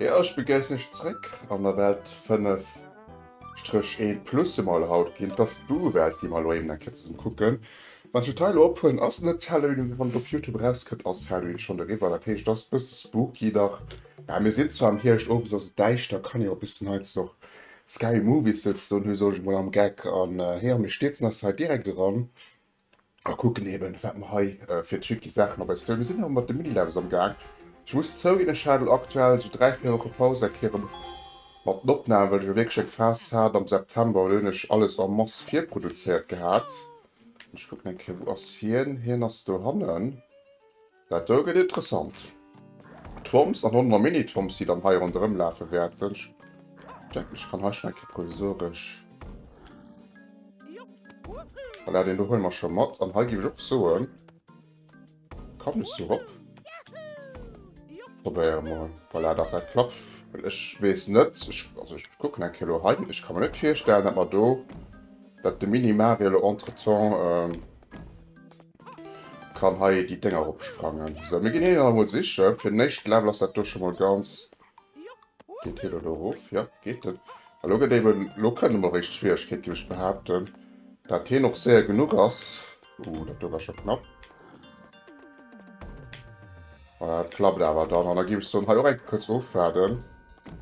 Jo ech begéissen iech zréck an der Welt 5 Stréch 1 plus emol haut ginn dass d'Buwelt déi mer elo eben eng Kéier zesummen kucken Wat ech hei lo ophuelen ass net Halloween, mee wann et op Youtube erauskënnt ass Halloween schonn eriwwer. Dat heescht et ass e bësse spooky nach. Mä mir sinn zwar am Hierscht, owes ass et däischter, kann een och e bëssen heiansdo och scary movies souzesoen hu, soll ech emol am Geck an heeër. Mir stierzen eis hei direkt eran a kucken eben, wat mer hei fir tricky Saachen op eis huelen. Mir sinn awer mat de Mini-Levels am Gaang. Ech muss zouginn, ech hat elo aktuell sou dräi, véier Woche Paus eng Kéier erëm mat den Opnamen, well ech elo wierklech eng Phas hat am September, wou hunn ech alles en masse virproduzéiert gehat. Ich gucken eng Kéier, wou ass hien? Hien ass do hannen. Dat do gëtt interessant. Toms an honner Mini-Toms, déi dann hei ronderëm lafe wäerten. Ich denken, ich kann hei schon eng Kéier provisoresch. Voilà, deen do huele mer scho mat. An hei géif ich och soen. Kann ech sou rop? Probéiere mol. Voilà, dach dat klappt. Well ech weess net, ech, also ech kucken eng Kéier elo hei, ech ka mer net virstellen, datt mer do, datt de Mini-Mario elo entretemps kann hei déi Dénger eropsprangen. Sou, mir ginn hien awer mol siche. Fir den éischte Level ass dat do scho mol ganz. Geet hien elo do erof? Jo, geet en. A lo gëtt eben, lo kënne mol eréischt Schwieregkeet, géif ech behaapten. Dat hien och séier genuch ass, Ooh, dat do war scho knapp. Voilà, dat klappt awer dann. An da géif ech soen, hei och eng Kéier kuerz ofwaarden.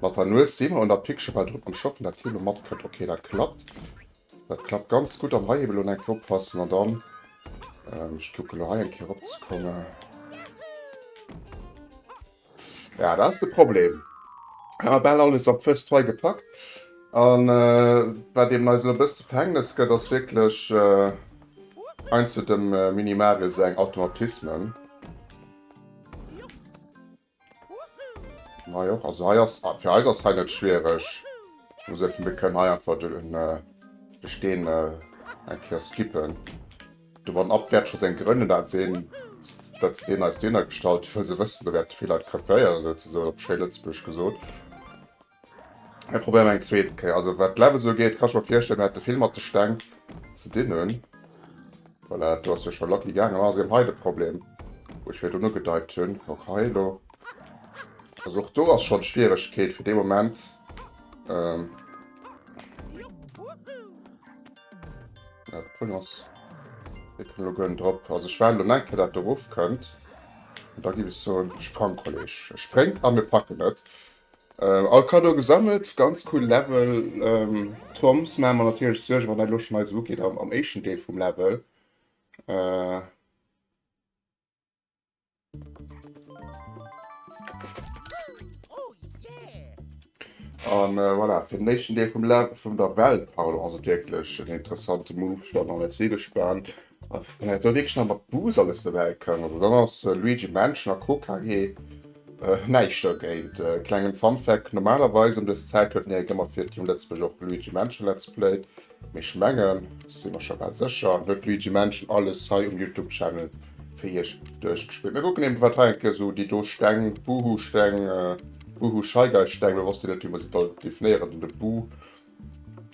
Mat der Nues si mer un der Pic scho bal drop am Schaffen, dat hie lo matkënnt. Okay, dat klappt. Dat klappt ganz gutt. Am hei eben lo nach eng Kéier oppassen an dann, ech kucke lo hei eng Kéier eropzekomme. Ja dat ass de Problem, ech hu bal alles op first try gepackt an wat eben eis elo e bëss ze verhängnes gëtt ass wierklech eins zu dem Mini Mario säin Automatisme. Hei och, also hei ass, fir eis ass hei net schwiereg, ech muss effen, mir kënnen hei einfach de Steen eng Kéier skippen. De One Up wäert scho seng Grënn hunn, dat sinn datt se deen eis Döner gestallt hunn, well se wëssen, do wäerte vill Leit krepéieren, souzesoen op schéi Lëtzebuergesch gesot. Mir probéieren eng zweete Kéier. Also wat d'Levels ugeet, ka ech mer virstellen, mir hätte vill mat de Steng ze dinn hunn. Voilà, do ass jo scho lucky gaangen. Mä si hunn hei de Problem, wou ech virdrun ugedeit hunn. Kuck hei elo. Also och do ass schonn d'Schwieregkeet fir dee Moment. Ja, drin ass. Wir können lo gönn drop. Also ich werde lo enke dat deruf könnt. Und da gibt es so einen Sprangkolleg. Sprengt an wir packen net. Äh, all Kado gesammelt, ganz cool Level. Ähm, Toms machen wir natürlich Sorge, wann dat lo schon eise Wookie am, am eischen Deel vom Level. Äh, An äh, voilà, fir den nächsten Deel vum Lab vun der Welt pardon, ass et wierklech en interessante Move schon an net si gespannt da wéi schnapp mat Bus alles dobäi kann. Also dann ass äh, Luigi Mansion a KKG äh, näischt dergéint. Äh, klengen Funfact, normalerweis ëm dës Zäit huet den Erik ëmmer fir Team Lëtzebuerg och Luigi Mansion Let's Play, Mee ech mengen, si mer scho bal sécher, huet Luigi Mansion alles hei um Youtube Channel fir iech duerchgespillt. Mir kucken eben wat hei enke sou déi do Steng, Buhu Steng, Buhu Scheigei Steng, lo wosst een net wéi mer se soll definéieren, den de Bu,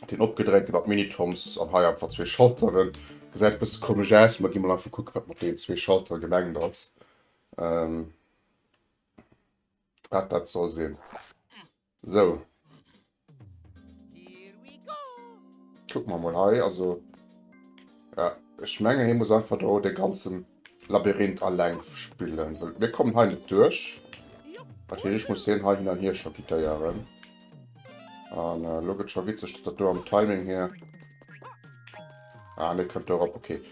deen opgedréinte mat Minitoms an hei einfach zwee Schalteren. Gesäit e bësse komesch aus, ma gi mol einfach kucke wat mat deenen zwee Schaltere gemengt ass, wat dat soll sinn. Sou. Kucken mer mol hei. Also, ja, ech menge hie muss einfach do de ganzen Labyrinth alleng spillen. Wëll mir kommen hei net duerch. Dat heescht, ech muss hien hei hin an hier chakitéieren. An äh, lo gëtt scho witzeg, datt dat do am Timing hier... Ah, ne kënnt do erop, okay.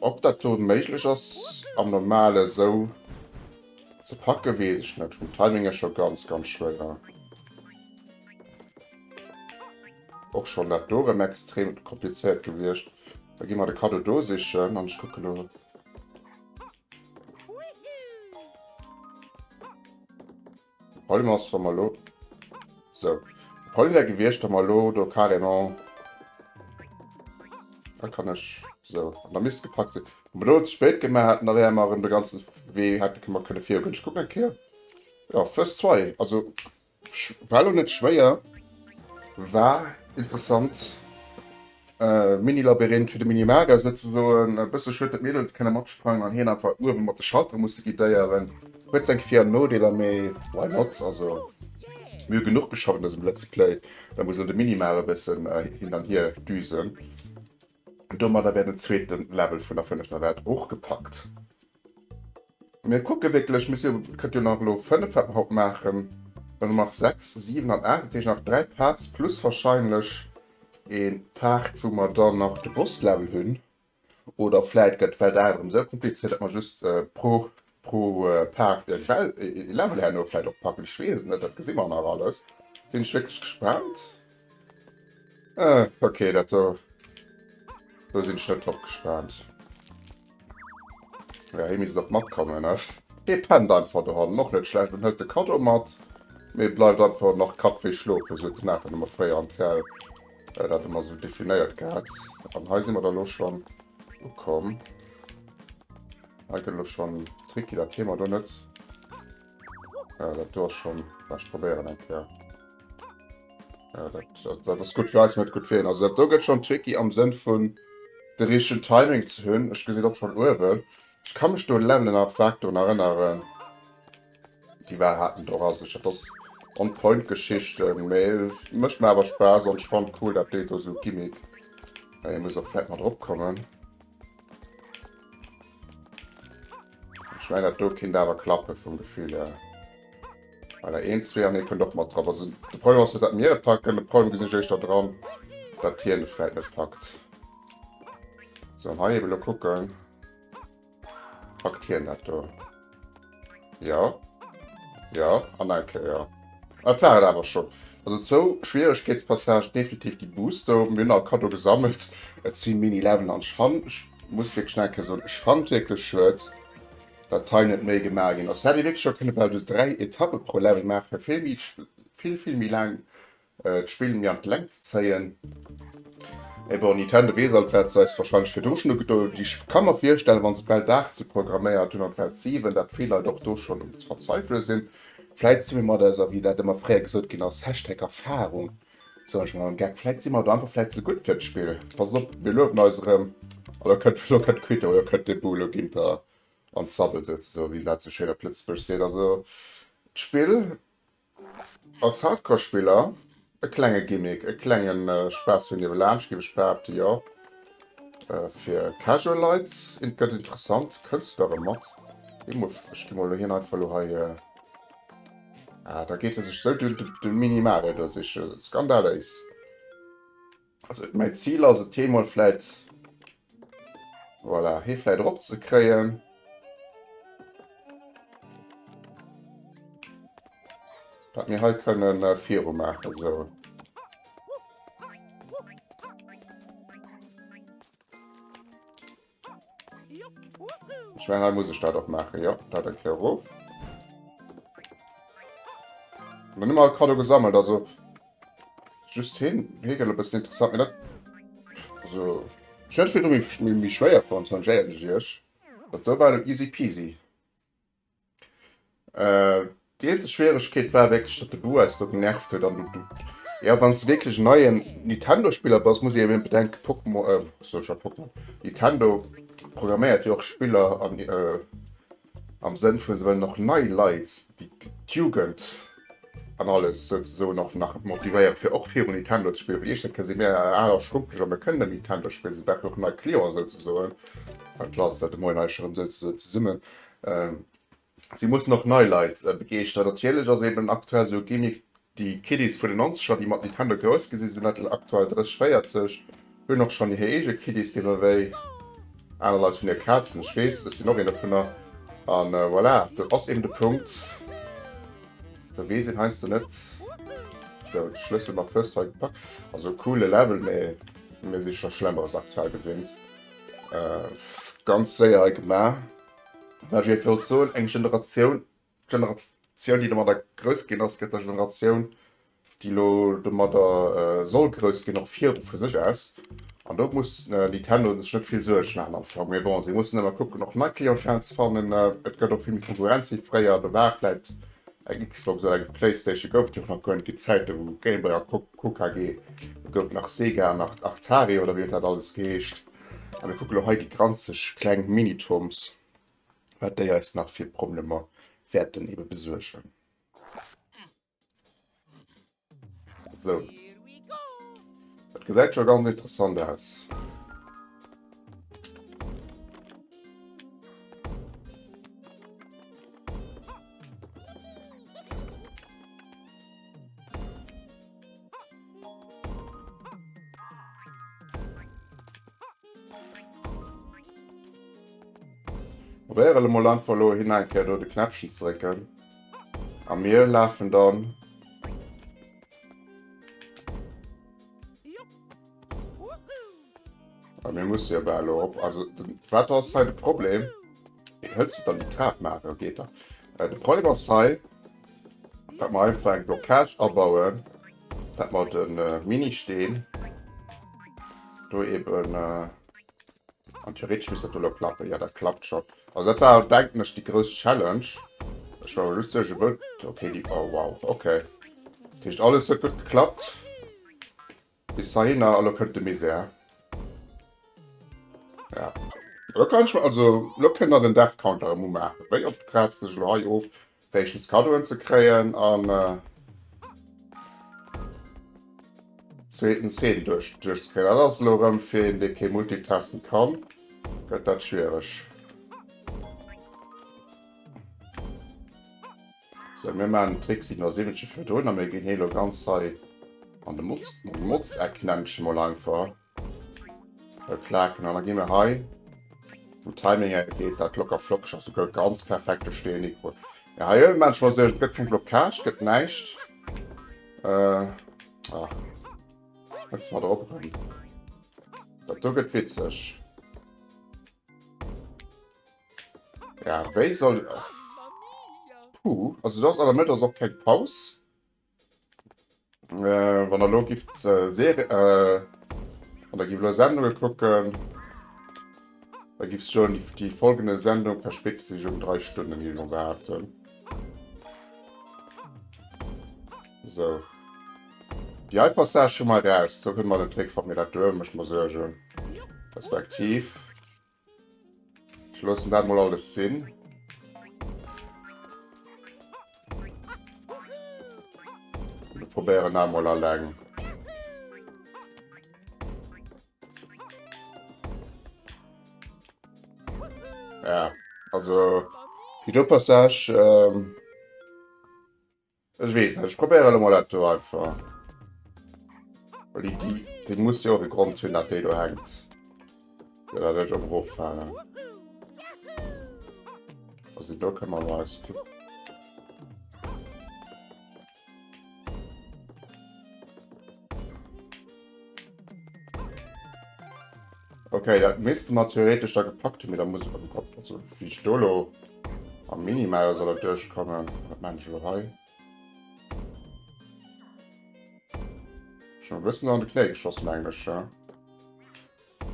Ob dat do méiglech ass am Normale sou... Ze packen wees ech net, vum Timing her schon ganz ganz schwéier. Och schon dat do rem extrem komplizéiert gewiecht. Da gi mer de Cadeau do sichen an ech kucken lo. Problem ass wa mer lo so Problem wär gewiecht wa mer lo do carrément da kann ech so an da misst gepackt sinn. Blo ze spéit gin, mer haten awer emmer erem de ganzen Wee hätte ke mer kënne virugen. Ech kucken eng Kéier, jo first try, also war lo net schwéier, war interessant, mini Labyrinth fir de mini Mario souzesoen, e bësse schued dat mir net kënne matsprangen an hien einfach uewen mat de Schalter musse guidéieren, huet seng Vir an Nodeeler, mee why not, also mir hu genuch geschafft an dësem Let's Play, da muss elo de Mini Mario e bëssen hin an hier düsen. Domadder wär den zweeten Level vun der fënnefter Welt och gepackt. Mir kucke wierklech, mir si jo, et kënnt jo nach elo 5 wat mer haut maachen, dann hu mer 6, 7 an 8, dat heescht nach 3 Parts plus wahrscheinlech ee Part wou mer dann nach de Boss Level hunn oder vläit gëtt d'Welt 8 erëm esou kompliziert, dat mer just pro Pro Paart e Level herno vläit och packen, ech weess et net, dat gesi mer nach alles. Sinn ech wierklech gespaant. Ok, dat do do sinn ech net drop gespaant. Jo, hie misst och matkommen, ne? Hie pennt einfach, de Hond, och net schlecht, an hëlt de Kaddo mat, mee bleift einfach nach Kapp wéi schlofen, sou huet den Nathan ëmmer fréier am TL dat ëmmer sou definéiert gehat. An hei si mer da lo schonn ukomm. Hei gëtt elo schonn tricky, dat kennen mer do net. Äh, dat do ass schonn, bah, ech probéieren eng Kéier. Äh, dat, dat, dat ass gutt fir eis, net gutt fir hien. Also dat do gëtt schonn tricky am Sënn vun de richtegen Timing ze hunn. Ech gesi et och schonn uewen. Ech ka mech do un Levelen am Factory erënneren. Déi war hat en och a sech. Dat ass on point Geschichte, mee mécht mer awer Spaass an ech fand cool dat deet do sou Gimmick. Mä hie muss och vläit mat erop kommen. Ech mein dat do kinnt awer klappe vum Gefill her. Well der een, zwee an hie kënnt och mat drop. Also de Problem ass net dat mir e packen, de Problem gesinn ech éischter dran, dat hien et vläit net packt. Sou, an hei ebe lo kucken. Packt hien dat do? Ja. Ja, an eng Kéier. Dat war et awer schonn. Also zou Schwieregkeetspassage definitiv déi Boost do. Mir hunn all Kaddo gesammelt. Et si Mini-Levelen an ech fann, ech muss wierklech nach eng Kéier soen, ech fann wierklech schued, datt hei net méi gemaach ginn ass. Hei hätt ee wierklech scho kënne bal just dräi Etappe pro Level maachen, fir vill méi, vill, vill méi laang D'Spill méi an d'Längt ze zéien. Mee bon, Nintendo weess alt, wat se eis warscheinlech virdru schonn ugedoen hunn. Ech ka mer virstellen, wa se d'Welt 8 sou programméiert hunn an d'Welt 7, dat vill Leit och do schonn um ze verzweifele sinn. Vläit si mir mat eiser, wéi dat ëmmer fréier gesot ginn ass, Hashtag Erfarung, soen ech mat engem Geck, vläit si mer do einfach vläit ze gutt fir d'Spill. Passt op, mir luewen eis erëm. A lo kënnt, lo kënnt d'Quittung, lo kënnt de Boom, lo geet der an d'Sabbel souzesoen, wéi een dat sou schéin op Lëtzebuergesch seet. Also d'Spill, Als Hardcore-Spiller, e klenge Gimmick, e klenge Spaass fir niewelaanscht, géif ech behaapten, jo. Fir casual Leit gëtt et interessant, kënns du da erëm mat? Gi mol, ech gi mol elo hien einfach elo hei, ah, da geet e sech esou de Minimale do sichen, skandaléis. Also mäi Zil ass et hee mol vläit voilà, hee vläit erop ze kréien. Dat mir hei kënnen äh, viru maachen so. Ech mengen hei muss ech dat och maachen, jo. Dat eng Kéier erof. Dann hu mer all Kaddo gesammelt, also just heen. Hee gëtt e bëssen interessant, mee dat. Also ech hätt et virdru méi schwéier fonnt, schonn, Iech dat do war elo easy peasy. Déi eenzeg Schwieregkeet war wierklech, datt de Boo eis do genervt huet. An du, jo, wann s de wierklech en neien Nintendo-Spiller bass, muss ee jo emol bedenken, Pokémo, ech soe scho Pokémon, Nintendo programméiert jo och Spiller an, am Sënn vu se wëllen och nei Leit, déi, d'Jugend an alles souzesoen och nach motivéieren, fir och viru Nintendo ze spillen. Well iergendwann kënne si mär al a schrumpeg a mär kënnen net méi Nintendo spillen. Si brauchen och nei Clienten souzesoen, well d'Leit sollten moien eis erëm souzesoen zesummen. Si mussen och nei Leit begeeschteren. Natierlech ass eben aktuell esou e Gimmick déi Kiddies vun den Nonzeger, déi mat Nintendo grouss gi sinn, sinn dat aktuell 30, 40, hunn och schonn hir eege Kiddies, déi mer wéi. Aner Leit hunn hir Kazen, ech weess, ech sinn och een dovunner. A voilà, dat ass eben de Punkt, da weess een heiansdo net. Sou, de Schlëssel mam First Try gepackt. Also e coole Level, mee mir si scho Schlemmeres aktuell gewinnt. Ganz séier hei gemaach. Mä wéi ech wollt soen, eng Generatioun, d'Generatioun, déi domadder grouss ginn ass, gëtt der Generatioun, déi elo domadder soll grouss ginn, och viru vu sech aus. An do muss Nintendo sech net vill Suerg maachen am Fong. Mee bon, si mussen ëmmer kucken, och nei Clientèle ze fannen. Et gëtt och vill méi Konkurrenz wéi fréier. Do war vläicht Eng Xbox oder eng Playstation gouf et jo nach guer net, déi Zäite wou Game Boy a Co KG gouf, nach Sega, nach Atari oder wéi huet dat alles geheescht. A mir kucke lo hei déi granzeg kleng Mini-Toms, wat déi eis nach fir Problemer wäerten ebe besuergen. Sou. Dat gesäit scho ganz interessant aus. Probéiere mol einfach elo hin eng Kéier do de Knäppchen ze drécken. A mir lafen dann. A mir musse jo bal erop. Also, wat ass hei de Problem? Wéi hëlls du dann déi Trap? Maachen, dat geet dann. De Problem ass hei, dat mer einfach eng Blockage abauen, dat mer de Ministeen do eeben. An theoretisch misst dat elo klappen. Ja, dat klappt schon. Also dat war, denken ech, die grouss Challenge. Ech war just sech wëll. Okay, die. Oh, wow. Okay. Dat heescht, alles huet gut geklappt. Bis dahinner, elo kënnt de Misär. Ja. Elo kann ich mal, also elo kënnt dann den Death Counter emol maachen. Wéi oft kraazt ech elo hei of? Wéischtens Kaddoen ze kréien an zweetens Heem duerch duerch ze kréien. Dat ass elo erëm fir een dee kee multitasken kann, gëtt dat schwiereg. Sou mir man Trick 77 fir drun a mir ginn hie lo ganz hei an de Motz Motzeck nenne ech e mol einfach. Bei Plaken an da gi mir hei um Timing er geet dat locker flockeg ass sogar ganz perfekte Stee Mikro. Ja hei ëllen manchmal se gëtt keng Blockage gëtt näischt. Äh, ah. Jetzt mal drop. Dat do gëtt witzeg. Ja, wéi soll. Puh, also du hast an der Mëtt ass och keng Paus. Wann der lo gifft Serie, wann der gifft lo Sendungen kucken, da gifft soen, die folgende Sendung verspätet sich um 3 Stunden, ginn ech mol behaapten. So, déi hei Passage hu mer eraus, do kënne mer den Trick fort, mee dat doe mécht mer Suergen, respektiv. Ech loossen dat mol alles sinn. Mir probéieren dat mol alleng. Ja, also die do Passage ähm, Ech weess net, ech probéiere elo mol dat do einfach. Well déi, déi, déi muss jo och e Grond hunn, datt déi do hänkt. Fir datt ech eroffaalen. Also do kënne mer mol eis kucken. Okay, dat misste mer theoretesch da gepackt hun, mee da muss ech am Kopf also wie ech do lo am Minimal soll dat duerchkommen, wat mengen ech lo hei? Schon e bëssen an de Knéi geschoss mengen ech, ja.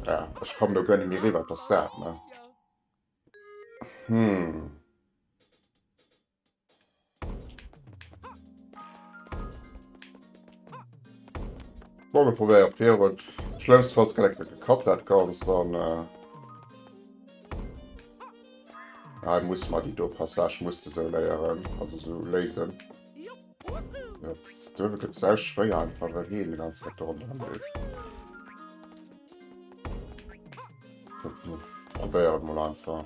Ja, ech komme do guer net méi riwwer, wat ass dat, ne? Hm. Bon, mir probéieren op Virun. Schlëmmstfalls kann ech gekatt dat ganz dann. Äh ah, muss man die do Passage muss du so léieren, also so lesen. Ja, du gëtt sehr schwéier einfach well heen die ganze Zeit run probéieren mal einfach.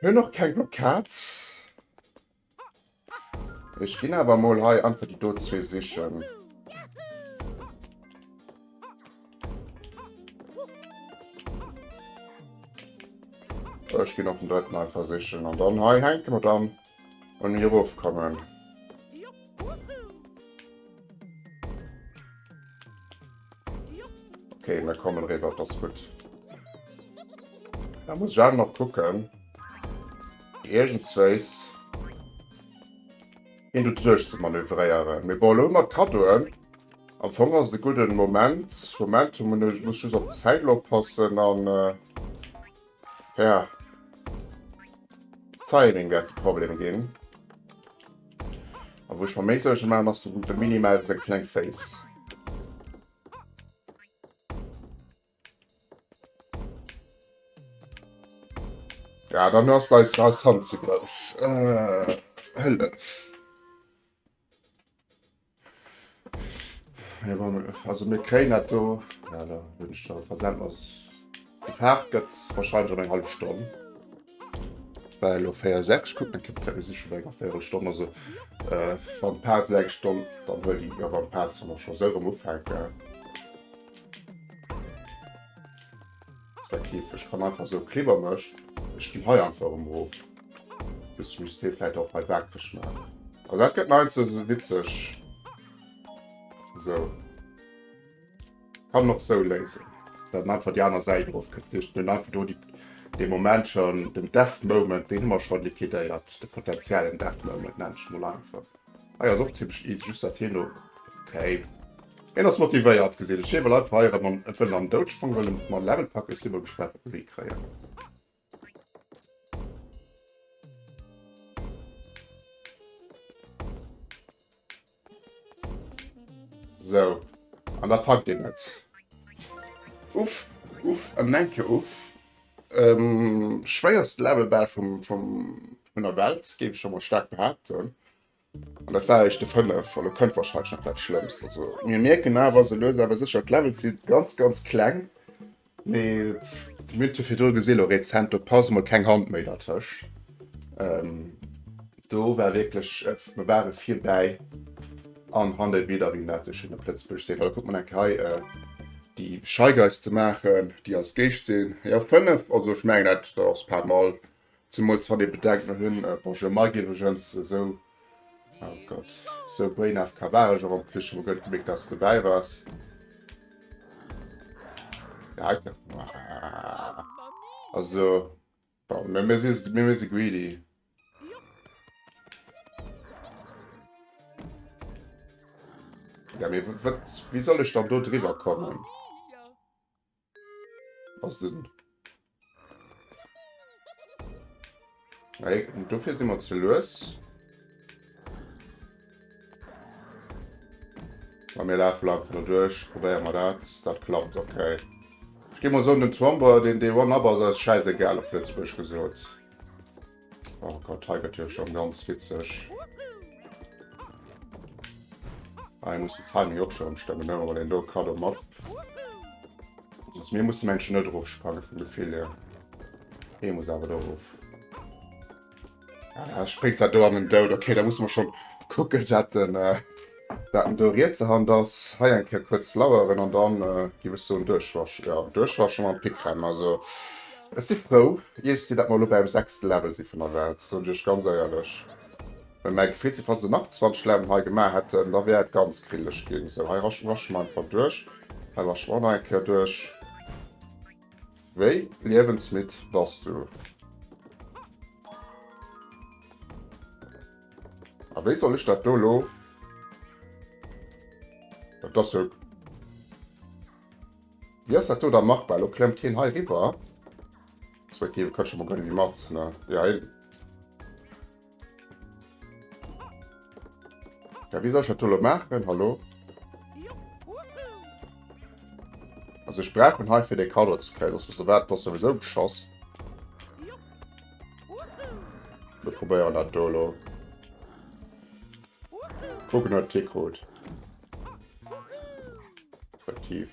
Mir hunn och keng Blockad. Ech ginn awer emol hei einfach déi do zwee sichen. Ech ginn och den drëtten einfach sichen an dann hei hänke mer dann. Wann mir erof kommen. Okay, mir kommen rüber, das ist gut. Da muss ich auch noch gucken. Irgendwas. Hin du durch zu manövrieren. Wir bauen immer Kadoen. Am Fong ist ein guter Moment. Momentum muss ich auf die Zeit passen. Dann. Äh Ja. Timing wärt de Problem gin. A wuch ma méi Suergen maan ass den gute Minimal seng kleng Face. Ja dann ass dei Hand ze grouss. Hëllef. Also mir kréien dat do, ja da hunn ech scho versent, ass gefaart gëtt wahrscheinlech an eng hallef Stonn. War elo 4 6 kuck net Kipzäit, mir si scho bei enger Véierelstonn, also äh, wann d'Part sou eng Stonn, dann huel déi, ja wann d'Part sou nach scho sou erëm ufänken. Der Käfeg kann einfach esou Klibber mécht. Ech ginn hei einfach erëm of. Bis ech muss dee vläit och hei waakreg maachen. Also dat gëtt neits esou witzeg. Esou. Kann en och esou léisen. Dat en einfach déi aner Säit of kënnt. Dat heescht, mir hunn einfach do déi, dee Moment schonn den Death Moment. Deen hu mer scho liquidéiert, de potentiellen Death Moment, nenne ech emol einfach. Hei ass och zimmlech easy, just dat hien do käift. Hien ass motivéiert, geséit ech. Hie wëll einfach hei erëm an et wëllen an den Doud sprangen, wëllen et mat Level packen. Ech si mol gespaant, wat mir hei kréien. Sou. An da packt een et. Uff, uff, en enke Uff. Schwéierst Level bal vun der Welt géif ech emol staark behaapten. An dat war eréischt de 5, elo kënnt wahrscheinlech nach dat Schlëmmst. Also mir mierken awer esou lues awer sécher d'Levels si ganz ganz kleng, mee d'Multiphiedrol gesi elo rezent do pass mol keng Hand méi dertëscht. Do war wierklech, mer ware virbäi an han dei Bilder wéi dat sou schéin op Lëtzebuerg seet, hallo kuckt mol eng Kéier hei déi Scheigeiss ze maachen déi als Géischt sinn, jo 5, also ech mengen dat dat ass pas mal, zemools wann ee bedenkt mer hunn, bonjour Mike iwwregens, esou, oh Gott, esou Brain AFK war ech och am Flich, ech hu mer guer net gemierkt dass s dobäi waars. Also. Bon, mir, mir si, mir, mir si greedy. Ja, mir, wat, wie soll ich dann do drüber kommen? Was denn? Hey, dafür sind wir zu los. Bei mir lafen wir einfach duerch, probéieren wir dat, dat klappt ok. Ech gin mol soen den Twomber den Day One up ass eis schäiss egal op Lëtzbuerg gesoot. Oh Gott hei gëtt jo schon ganz witzeg. Hei muss de Timing och schon stëmmen ne well een do Kado mat ass. Mir mussen mengen net erof sprange vum Gefill hier. Hee muss awer do erof. Ah, springt dat do an den Doud. Okay, da muss mer schon kucken, dat den, äh, dat den do rietse Hand ass. Hei eng Kéier kuerz laueren an dann, äh, giff ech soen, duerchwaschen. Ja, duerchwaschen mam Pickrem. Also, ech si frou, iech si, dat mer elo bäim sechste Level si vun der Welt, soen ech iech ganz éierlech. Well mäi Gefill si, falls ech nach 20 Leveln hei gemaach hätten, da wär et ganz grillech ginn. Sou, hei rasche, rasche mer einfach duerch. Hei rasche mer och nach eng Kéier duerch. Wéi liewensmidd bass du? A wéi soll ech dat do lo? Dat ass jo... Wéi ass dat do da machbar? Lo klemmt hien hei riwwer. Respektiv, e kënnt scho mol grad ewéi mat, ne? Jo, hien... Ja, wie soll ich das machen? Hallo? Also ich brauche einen für den Kader zu kriegen, sonst so weit das sowieso geschossen. Wir probieren das Dolo. Gucken, ob Tick rot. Aktiv.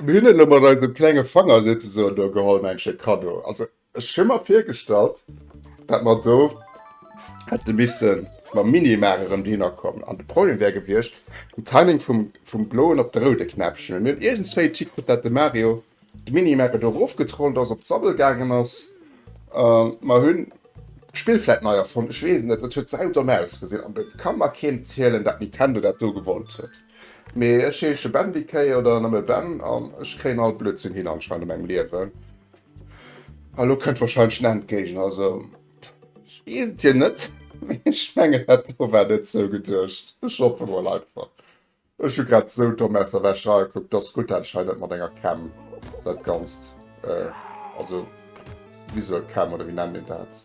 Mir hunn elo mat eisem klenge Fanger souzesoen do geholl, mäin Stéck Kaddo. Also ech hu mer virgestallt, datt mer do hätte misse mam Mini Mar erëm dohinner kommen. An de Problem wär gewiescht, den Timing vum bloen op de roude Knäppchen. Mir hunn iergendswéi d'Hikritt, datt de Mario de Mini Mar do erofgetrollt ass, op d'Sabbel gaangen ass. Mer hunn d'Spill vläit nei erfonnt, ech weess et net. Et huet saudomm ausgesinn an et ka mer keen zielen, datt Nintendo dat do gewonnt huet. Mee ech heesche Ben wéi d'Kéi oder nëmme Ben an ech kréien all Blödsinn hin anscheinend a mengem Liewen. A lo kënnt warscheinlech den Endgéigner, also ech weess et jo net, mee ech mengen dat do war net sou geduecht. Ech hoffen emol einfach, ech hu grad sou domm aus der Wäsch ragekuckt, dass gutt dat ech hei net mat enger Cam dat Ganzt, also visuel Cam oder wéi nennt een dat?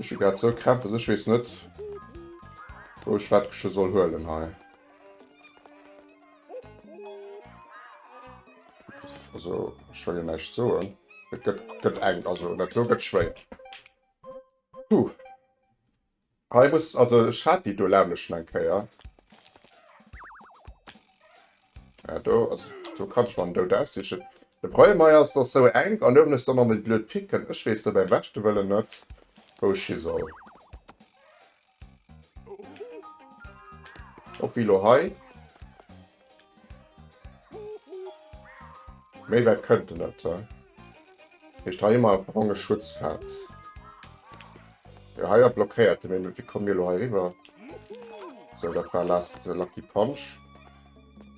Ech hu grad sou Krämpes, ech weess net wou ech wat gesche soll huelen hei. Also ech well jo näischt soen. Et gëtt gëtt eng, also dat do gëtt schwéier. Puh. Hei muss, also ech hat déi do laang schon eng Kéier. Ja, do, also, do kann ech man Dout aussichen. De Problem hei ass, dass sou enk an uewen ech dann an déi blöd Picken. Ech weess do beim beschte Wëllen net, wou ech hi soll. Och wéi lo hei. Méi wäit kënnt en net. Heescht hei ëmmer bronge Schutzfeld. Jo, hei war blockéiert. Mee wéi komme mir elo hei eriwwer? Sou, dat war last Lucky Punch.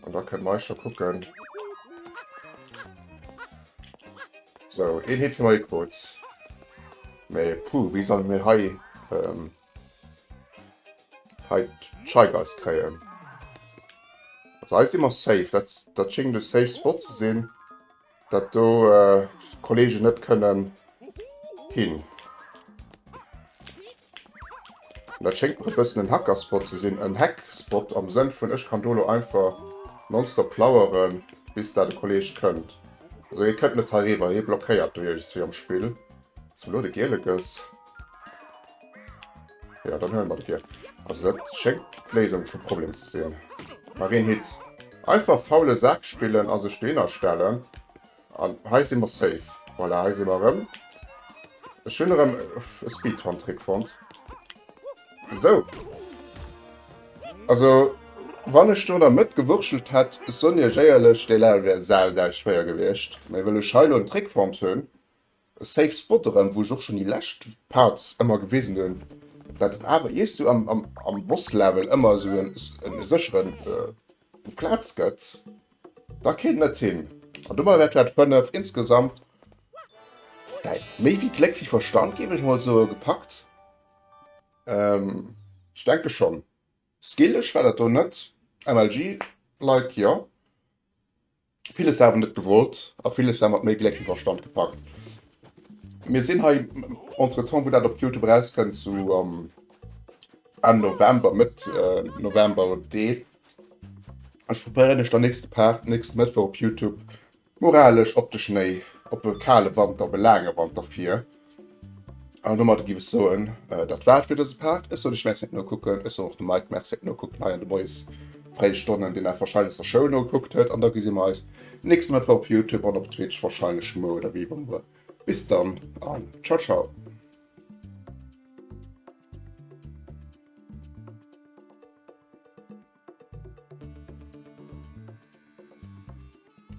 An da kënne mei scho kucken. Sou, een Hit fir mei Codes. Mee puh, wéi solle mir hei Hei d'Scheigeist kréien. Also hei si mer safe. Dat, dat schéngt e safe Spot ze sinn. Dat do äh, d'Kollegen net kënnen hin. Dat schéngt mer e bëssen en Hackerspot ze sinn. En Hackspot am Sënn vun, ech kann do lo einfach nonstop laueren, bis da de Kolleg kënnt. Also hie kënnt net heiriwwer, hie blockéiert do iergendswéi am Spill. Zum Lo de Gilekes. Jo, dann huelen mer de Giel. Also dat schéngt d'Léisung vum Problem ze sinn. Mer een Hit. Einfach faule Sak spillen a sech dohinner stellen. An hei si mer safe. Voilà, hei si mer erëm. Ech hunn erëm e Speedrun-Trick fonnt. Esou. Also, wann ech do an der Mëtt gewurschtelt hätt, ech soen Iech éierlech, dee Level wär sau, sau schwéier gewiescht. Mee wëll ech hei elo en Trick fonnt hunn, Safe spot erem wou ech och schon déi lescht parts emmer gewisen hun dat et awer iech sou am boss level emmer sou en secheren platz get da kéint net hin an domadder wert dat 5 insgesamt vläit méi wéi gléck wéi verstand géif ech mol soen gepackt ech denke schon skillech war dat do net mlg like jo. Villes awer net gewollt a villes awer mat méi Gléck wéi Verstand gepackt. Mir sinn hei entretemps, wou dat op Youtube erauskënnt, sou am Enn November, Mëtt November de. Ech probéieren iech dann nächste Part, nächste Mëttwoch op Youtube moralesch op de Schnéi, op e kale Wanter, op e laange Wanter vir. An domadder giff ech soen, dat war et fir dëse Part. Ech soen iech Merci fir d'Nokucken. Ech soen och dem Mike Merci fir d'Nokucken hei an de moies fréie Stonnen, deen dat warscheinlech aus der Schoul nogekuckt huet. An da gesi mer eis nächste Mëttwoch op Youtube an op Twitch, warscheinlech muer oder wéi ewéi muer. Bis dann an ciao ciao.